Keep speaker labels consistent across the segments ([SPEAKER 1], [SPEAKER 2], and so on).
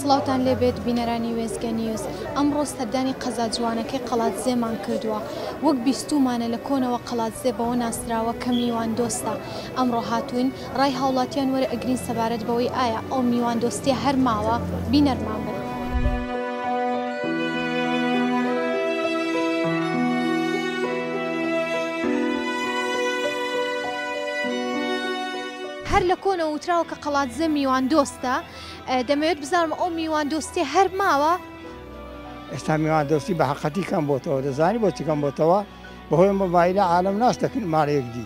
[SPEAKER 1] سڵاوتان لێبێت بینەرانی وێزگە نیوز ئەمڕۆ سەردانی قەزا جوانەکەی قەڵاتزێمان کردووە وەک بیستومانە لە کۆنەوە قەڵاتزێ بەوە ناسراوە کە میوان دۆستە ئەمڕۆ هاتوین ڕای هاوڵاتیان وەرە ئەگرین سەبارەت بەوەی ئایا ئەو میوان دۆستیە هەر ماوە بینەرمان بن. هەر لە کۆنەوە وتراوە کە قەڵادزێ میوان دۆستە دەمەوێت بزانم ئەو میوان دۆستیە هەر ماوە؟
[SPEAKER 2] ئێستا میوان دۆستی بە حەقەتی کەم بۆتەوە دەزانی بۆچی کەم بۆتەوە بەهۆی مۆبایلە عالەم ناش دەکەن ماڵێک دی.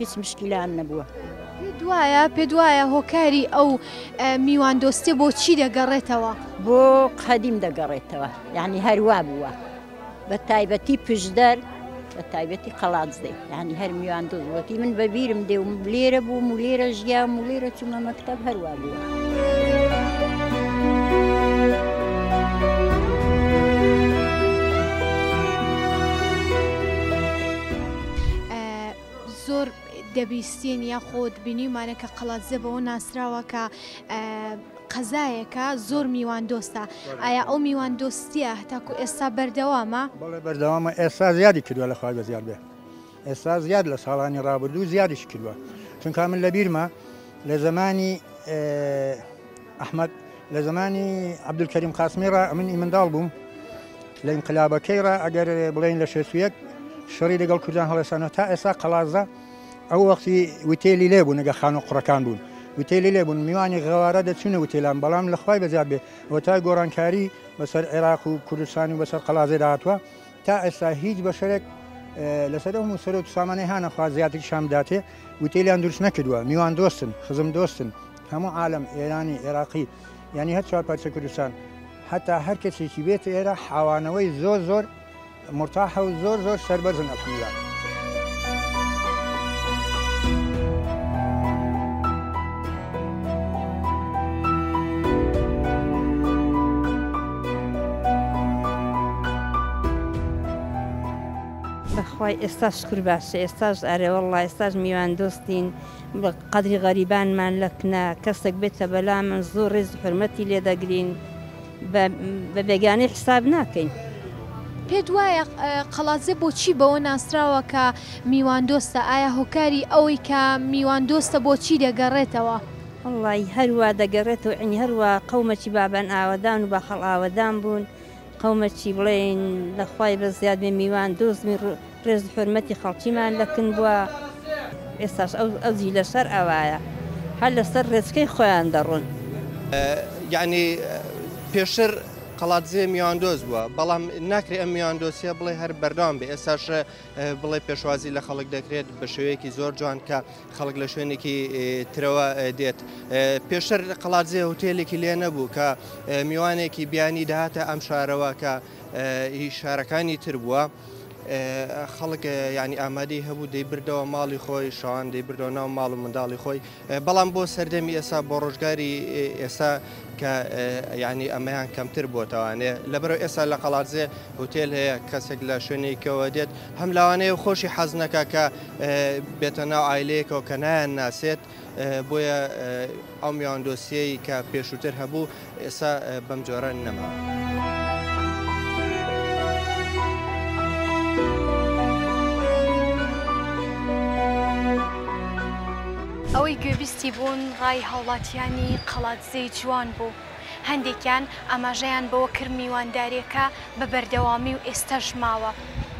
[SPEAKER 3] هیچ مشکیلان نەبووە. دوایە
[SPEAKER 1] پێ دوایە هۆکاری ئەو میوان دۆستێ بۆچی دەگەڕێتەوە بۆ
[SPEAKER 3] قەدیم دەگەڕێتەوە یعنی هەروا بووە بە تایبەتی پشدەر بە تایبەتی قەڵات دێ ینی هەر میوان دۆزوەتی من بەبیرم دێ و لێرە بووم و لێرە ژیا و لێرە چوومە مەکتب هەروا بووە.
[SPEAKER 1] زۆر دەبیستین یاخود بینیمانە کە قەڵادزێ بەوە ناسراوە کە قەزایەکە زۆر میوان دۆستە ئایا ئەو میوان دۆستیە هەتاکو ئێستا بەردەوامە بەڵێ بەردەوامە
[SPEAKER 4] ئێستا زیادی کردووە لە خوای بە زیاد بێ ئێستا زیاد لە ساڵانی ڕابردوو زیادیش کردووە چونکە من لە بیرمە لە زمانی ئەحمەد، لە زەمانی عەبدولکەریم قاسمی ڕا ئەمن ئی منداڵ بووم، لە ئینقلابەکەی ڕا ئەگەر بڵێین لە شەست و یەک شەڕی لەگەڵ کوردان هەڵێسانەوە تا ئێستا قەڵادزە ئەو وەختی وتێلی لێ بوون ئەگەر خانوو قوڕەکان بوون وتێلی لێ بوون میوانی غەوارا دەچوونە وتێلان بەڵام لە خوای بەزیاد بێ هۆتای گۆڕانکاری بەسەر عێراق و کوردستان و بەسەر قەڵادزێدا هاتووە تا ئێستا هیچ بەشەرێک لەسەر ئەو موسەر و سامانەی هانەخوا زیاتریشان بداتێ وتێلیان دروست نەکردووە میوان دۆستن خزم دۆستن هەموو عالەم ئێرانی ئێراقی یانی هەر چوار پارچە کوردستان هەتا هەر کەسێکی بێت ئێرە حاوانەوەی زۆر زۆر مرتاحە و زۆر زۆر سربەرزن ئەفلا. بەخوای ئێستا شکر باشە
[SPEAKER 5] ئێستاش ئەرێ وەڵڵا ئێستاش میوان دۆستین. قەدری غەریبانمان لە کنە کەسەک بێتە بەلامن زۆر ڕێز و حورمەتی لێ دەگرین بە بێگانەی حیساب ناکەین. پێت
[SPEAKER 1] وایە قەڵادزێ بۆچی بەوە ناسراوە کە میواندۆستە؟ ئایا هۆکاری ئەوەی کە میواندۆستە بۆ چی دەگەڕێتەوە؟ وەڵڵاهی
[SPEAKER 5] هەروا دەگەڕێتەوە عەینی هەروا قەومەکی بابان ئاوەدان و باخەڵ ئاوەدان بوون، قەومە چی بڵێین لە خوای بە زیاد بێ میوان دۆزمی ڕێز و حورمەتی خەڵکیمان لە کن بوە ئێستاش ئەو ئەو جیلە شەر ئەوایە هەر لە سەر ڕێچکەی خۆیان دەڕۆن.
[SPEAKER 6] یەعنی پێشتر قەڵادزێ میواندۆز بوە بەڵام ناکرێ ئەم میواندۆسیە بڵێ هەر بەردەوام بێ ئێستاش بڵێ پێشوازی لە خەڵک دەکرێت بە شێوەیەکی زۆر جوان کە خەڵک لە شوێنێکی ترەوە دێت پێشتر قەڵاتزێ هوتێلێکی لێ نەبوو کە میوانێکی بیانی داهاتە ئەم شارەوە کە شارەکانی تر بووە. خەڵک ینی ئامادەی هەبوو دەی بردەوە ماڵی خۆی شان دەی بردەوە ناو ماڵ و منداڵی خۆی بەڵام بۆ سەردەمی ئێستا بۆ ڕۆژگاری ئێستا کە ینی ئەمەیان کەمتر بۆتەوانێ لەبەرو ئێستا لە قەڵاتزێ هوتێل هەیە کەسێک لە شوێنێکەوە دێت هەم لاوانەیە خۆشی حەز نەکە کە بێتە ناو ئایلەیەکەوە کە نایان ناسێت بۆیە ئەو میوان دۆسیەی کە پێشووتر هەبوو ئێستا بەم جۆرە نەماوە.
[SPEAKER 1] ئەوەی گوێبیستی بوون ڕای هاوڵاتیانی قەڵادزێی جوان بوو. هەندێکیان ئاماژەیان بەوە کرد میوانداریەکە بە بەردەوامی و ئێستەش ماوە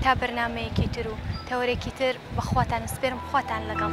[SPEAKER 1] تا بەرنامەیەکی تر و تەوەرێکی تر بەخواتان ئەسپێرم خواتان لەگەڵ.